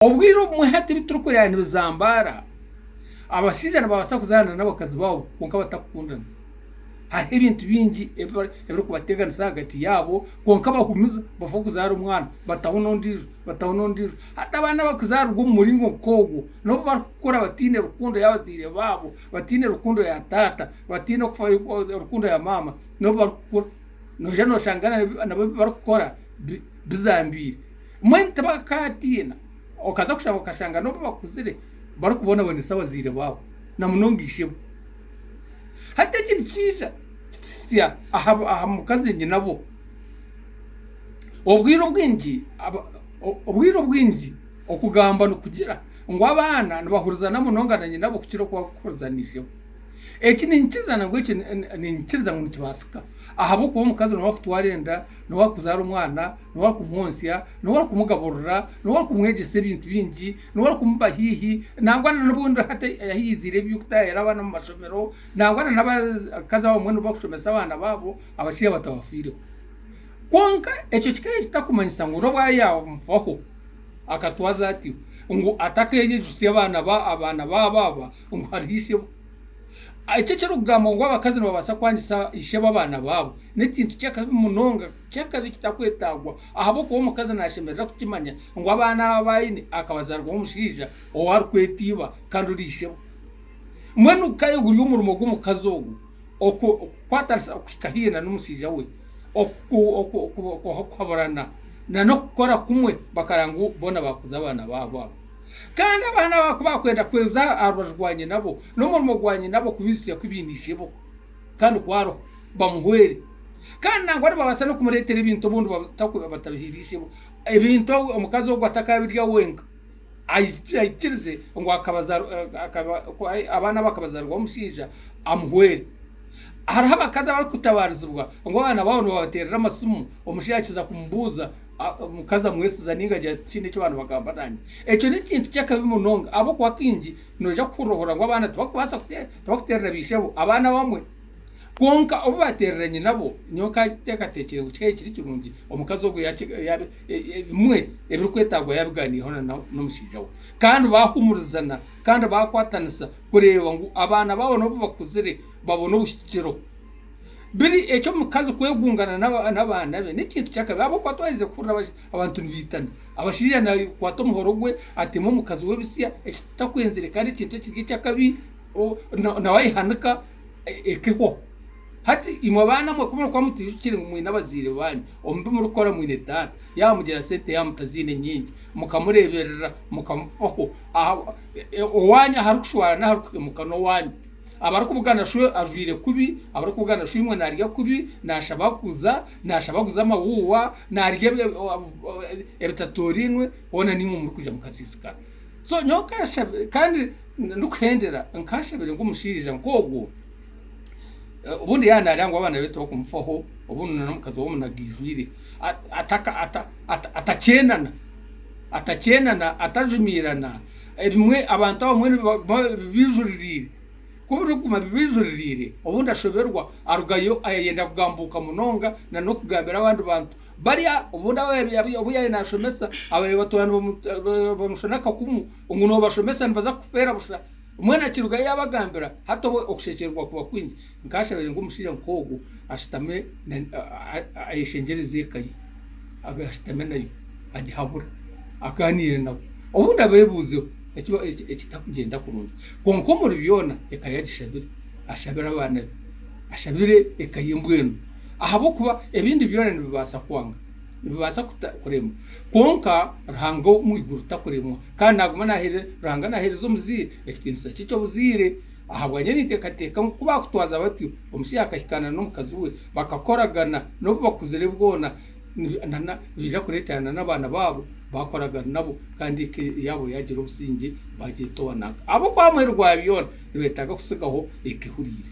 Obwire obumwe hati ebi turikureba nibizambaara, abashaija nibabaasa kuzaana n'abakazi baabo kwonka batarikukundana. Hariho ebintu bingi ebirikubateganisa ahagati yaabo kwonka bahumiza bafa kuzaara omwana bataho n'ondiijo bataho n'ondiijo. Hati abaana abarikuzaarwa omu muringo nk'ogwo n'obu barikukura bataine rukundo y'abazaire baabo, bataine rukundo ya taata, bataine rukundo ya maama n'obu barikukura. Noija noshanga nabyo ebi barikukora bizambiire. Mbwenu tibakatiina. Okaza kushaba okashanga n'obu bakuzire barikubonabonesa abazaire baabo na munonga ishebo. Hati eki nikiija kituhitsya aha mukazi nyinabo. Obwire obwingi obwire obwingi okugamba nikugira ngu abaana nibahurizana munonga na nyinabo kukira oku barikuhuriza na ishebo. Eki ninkiza nangwa eki ninkikiriza ngu nikibaasika ahabw'okuba omukazi niwe arikutwara enda, niwe arikuzaara omwana. n'ow'akumwotsya, n'ow'akumugaburira, n'ow'akumwegyesa ebintu bingi, n'ow'akumuba haihi, nangwa n'obundi hati yahikiiziire eby'okutaahira abaana omu mashomero, nangwa n'abakazi abamwe nibo barikushomesa abaana baabo, abashaija batabafiireho. Kwonka ekyo kikaba kitakumanyisa ngu n'obu ariyo yaamufaho, akatwaza atyo, ngu atakeegyegyesa abaana baabo aba ngu hariho ishebo. Eki ekirikugambwa ngu abakazi nibabaasa kwangisa ishebo abaana baabo, n'ekintu ky'akabi munonga. Kyakabi kitakwetagwa ahabw'okuba omukazi nashemerera kukimanya ngu abana aba bayine akabazarwaho omushaija owu arikweta iba kandi ori ishebo. Mbwenu ka guri omurimo gw'omukazi ogu okukwatanisa okuhika hihi na n'omushaija we, okuhaburana na n'okukora kumwe bakaraba ngu bona bakuza abana babo abo. Kandi abana aba ku bakwenda kwenza aha rubaju rwa nyina bo, n'omurimo gwa nyina bo kubijutsya ku ibine ishebo. Kandi ku hariho, bamuhwere. Kandi nangwa nibabaasa n'okumureetera ebintu obundi batakuba batabihaire ishebo. Ebintu ahu omukazi ogu atakabirya wenka, aiki- aikirize ngu akabazaarwa akaba ku abaana abo akabazaarwaho omushaija, amuhwere. Hariho abakazi abarikutabaarizibwa ngu abaana baabo nibabateerera amasimu, omushaija yaakiza kumubuuza, a- omukazi amwesiza ninga agira ati tihiine eki baanibagamba naanye. Ekyo n'ekintu ky'akabi munonga ahabw'okuba kaingi noija kuhurira ohurira ngu abaana tibakubaasa kutee. Tibakuteerera baishebo, abaana abamwe. Kwonka obu bateerera nyinabo, nyowe nkateekateekyire ngu kikaba kiri kirungi omukazi ogwo yaaba bimwe ebirikwetaagwa yaabigaaniireho n'omushaija we. Kandi baahumurizana kandi baakwatanisa kureeba ngu abaana baabo n'obu bakuzire babona obuhikiro. Biri eky'omukazi kwegungana n'abaana be n'ekintu ky'akabi ahabw'okuba twaherize kuhurira Abantu nibaitana. Abashaija nakwata omuhoro gwe ateme omukazi we ebisya ekitakwenzire kandi ekintu ekiri ekyakabi nawe ayehanika eka ehwaho. Hati imwe abaana mwe ku murikuba mutijukire ngu mwine abaziire banyu, omu bi murikukora mwine taata yamugira sente yaba mutaziine nyingi mukamureeberera mukamufaho. Owaanyu ahu arikushwara n'ahu arikuhemuka n'owaanyu. Abarikubugana shi ajwaire kubi, abarikubugana shi imwe naarya kubi, naashaba kuza. nashaba aguze amawuuwa narya ebitatorainwe hoona naimwe muri kwija mukasiisikara. So nyowe nkashabire kandi ndi kuhendera nkashabire ngu omushaija nk'ogwo obundi yaba nareba ngu abaana be tibakumufaho obundi n'omukazi we omunaga aijwire atakyenana atakyenana atajumiirana ebimwe abantu abamwe nibaba bijuririire. Ku birikuguma bibijuririire, obu ndashoberwa, arugayo ayayenda kugambuuka munonga na n'okugambira abandi bantu. Bari obu yaabaire naashomesa abaabaire batwariine bamushana akakumu ngu noobashomesa nibaza kufeera busha. Mbwenu akirugayo yaabagambira, hati obwo okushekyererwa kuba kwingi. Nkashabire ngu omushaija nk'ogwo ashutame ayeshengyereze eka ye, abe ashutame nayo agihabure, agaaniire nabo. Obu ndabeebuuzeho, ekitakugyenda kurungi. Kwonka omuri byona eka yagishabire. Ashabire abaana be. Ashabire eka ye mbwenu. Ahabw'okuba ebindi byona nibibaasa kwanga. Nibibaasa kuremwa. Kwonka Ruhanga omu iguru takuremwa. Kandi naaguma naaheereza, Ruhanga naaheereza omuzaire ekitiinisa kye eky'obuzaire. Ahabwanyima ninteekateeka ngu ku baakutwaza batyo, omushaija akahikaana n'omukazi we, bakakoragana, n'obu bakuzire bwona, nibaija kureetera n'abaana baabo baakoraga nabo kandi eka yaabo yaagira obusingye baagyetoona. Ahabw'okuba aha muheru gwa byona nibeetaaga kutsigaho eka ehuriire.